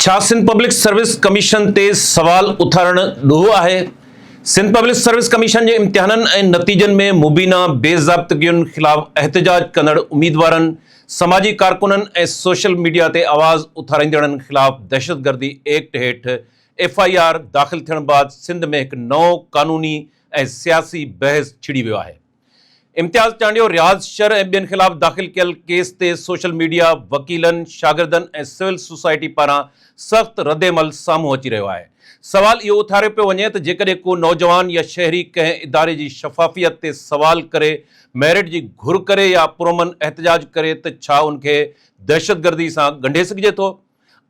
ڇا Sindh public service commission تي سوال اٿارڻ ڏوهه آهي؟ سنڌ پبلڪ سروس ڪميشن جي امتحانن ۽ نتيجن ۾ مبينا بي ضابطگين خلاف احتجاج ڪندڙ اميدوارن، سماجي ڪارڪنن ۽ سوشل ميڊيا تي آواز اٿاريندڙن خلاف دهشتگردي ايڪٽ هيٺ ايف آء آر داخل ٿيڻ بعد سنڌ ۾ هڪ نئون قانوني ۽ سياسي بحث ڇڙي ويو آهي. امتياز چانڊيو رياض شر ۽ ٻين خلاف داخل ڪيل ڪيس تي سوشل ميڊيا، وڪيلن، شاگردن ۽ سول سوسائٽي پاران سخت ردعمل سامهون اچي رهيو آهي. سوال اهو اٿاريو پيو وڃي ته جيڪڏهن ڪو نوجوان يا شهري ڪنهن اداري جي شفافيت تي سوال ڪري ميرٽ جي گهر ڪري يا پرامن احتجاج ڪري ته ڇا ان کي دهشتگردي سان ڳنڍي سگهجي ٿو؟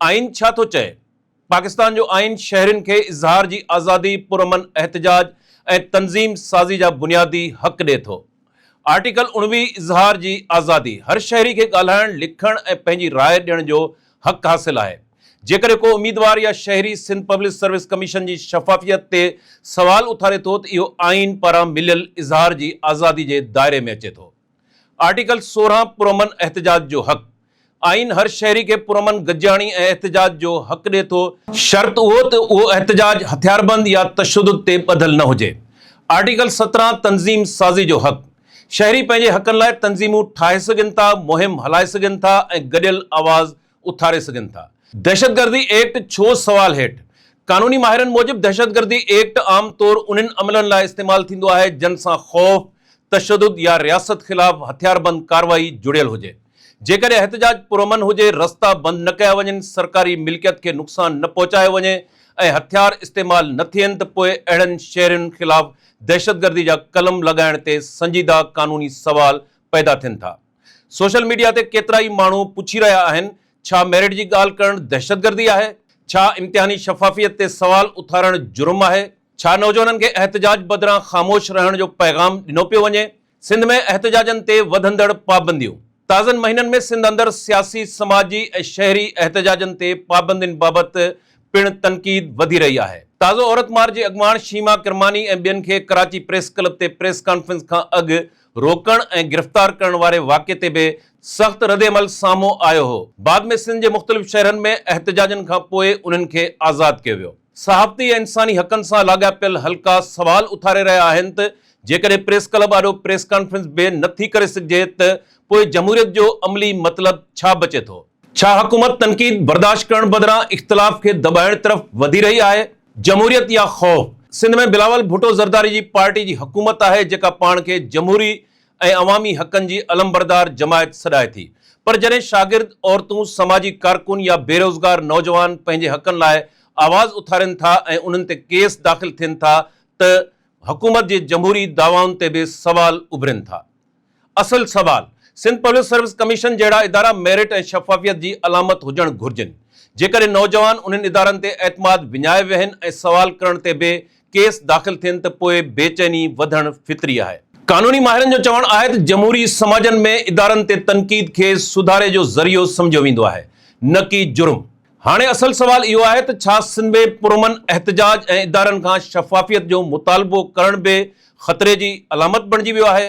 آئين ڇا ٿو چئي؟ پاڪستان جو آئين شهرين کي اظهار جي آزادي، پرامن احتجاج ۽ تنظيم سازي جا بنيادي حق ڏئي ٿو. آرٽيڪل اڻويهه اظهار جي آزادي، هر شهري کي ڳالهائڻ، لکڻ ۽ پنهنجي راء ڏيڻ جو حق حاصل آهي. جيڪڏهن ڪو اميدوار يا شهري سنڌ پبلڪ سروس ڪميشن جي شفافيت تي سوال اٿاري ٿو ته اهو آئين پاران مليل اظهار جي آزادي جي دائري ۾ اچي ٿو. آرٽيڪل سورهن پرامن احتجاج جو حق، آئين هر شهري کي پرامن گڏجاڻي ۽ احتجاج جو حق ڏئي ٿو، شرط اهو ته اهو احتجاج هٿياربند يا تشدد تي ٻڌل نه هجي، آرٽيڪل سترهن تنظيم سازي جو حق، شهري پنهنجي حقن لاء تنظيمون ٺاهي سگهن ٿا، مهم هلائي سگهن ٿا ۽ گڏيل آواز اٿاري سگهن ٿا. دهشتگردي ايڪٽ ڇو سوال هيٺ؟ قانوني ماهرن موجب دهشتگردي ايڪٽ عام طور انهن عملن لاء استعمال ٿيندو آهي جن سان خوف، تشدد يا رياست خلاف هٿياربند ڪارروائي جڙيل هجي. جيڪڏهن احتجاج پرامن هجي، رستا بند نه ڪيا وڃن، سرڪاري ملڪيت کي نقصان نه پهچايو وڃي ۽ هٿيار استعمال نه ٿين ته پوء اهڙن شهرين خلاف دهشتگردي جا قلم لڳائڻ تي سنجيده قانوني سوال پيدا ٿين ٿا. سوشل ميڊيا تي ڪيترائي ماڻهو پڇي رهيا آهن ڇا ميرٽ جي ڳالهه ڪرڻ دهشتگردي آهي؟ ڇا امتحاني شفافيت تي سوال اٿارڻ جرم آهي؟ ڇا نوجوانن کي احتجاج بدران خاموش رهڻ جو پيغام ڏنو پيو وڃي؟ سنڌ ۾ احتجاجن تي وڌندڙ پابنديون، تازن مهينن ۾ سنڌ اندر سياسي، سماجي ۽ شهري احتجاجن تي پابندين بابت پڻ تنقيد وڌي رهي آهي. تازو عورت مارچ جي اڳواڻ شيما ڪرماني ۽ ٻين کي ڪراچي پريس ڪلب تي پريس ڪانفرنس کان اڳ روڪڻ ۽ گرفتار ڪرڻ واري واقعي تي به سخت ردعمل سامهون آيو هو. بعد ۾ سنڌ جي مختلف شهرن ۾ احتجاجن کان پوء انهن کي آزاد ڪيو ويو. صحافتي ۽ انساني حقن سان لاڳاپيل حلقا سوال اٿاري رهيا آهن ته جيڪڏهن پريس ڪلب آڏو پريس ڪانفرنس به نه ٿي ڪري سگهجي ته پوء جمهوريت جو عملي مطلب ڇا بچي ٿو؟ ڇا حڪومت تنقيد برداشت ڪرڻ بدران اختلاف کي دٻائڻ طرف وڌي رهي آهي؟ جمهوريت يا خوف؟ سنڌ ۾ بلاول ڀٽو زرداري جي پارٽي جي حڪومت آهي جيڪا پاڻ کي جمهوري ۽ عوامي حقن جي علمبردار جماعت سڏائي ٿي پر جڏهن شاگرد، عورتون، سماجي ڪارڪن يا بيروزگار نوجوان پنهنجي حقن لاء آواز اٿارين ٿا ۽ انهن تي ڪيس داخل ٿين ٿا ته حڪومت جي جمهوري دعوائن تي به سوال اڀرين ٿا. اصل سوال، سنڌ پبلڪ سروس ڪميشن جهڙا ادارا ميرٽ ۽ شفافيت جي علامت هجڻ گهرجن، جيڪڏهن نوجوان انهن ادارن تي اعتماد وڃائي ويهن ۽ سوال ڪرڻ تي به ڪيس داخل ٿين ته پوء بيچيني وڌڻ فطري آهي. قانوني ماهرن جو چوڻ آهي ته جمهوري سماجن ۾ ادارن تي تنقيد کي سڌاري جو ذريعو سمجهيو ويندو آهي نه ڪي جرم. هاڻي اصل سوال اهو آهي ته ڇا سنڌ ۾ پرامن احتجاج ۽ ادارن کان شفافيت جو مطالبو ڪرڻ به خطري جي علامت بڻجي ويو آهي؟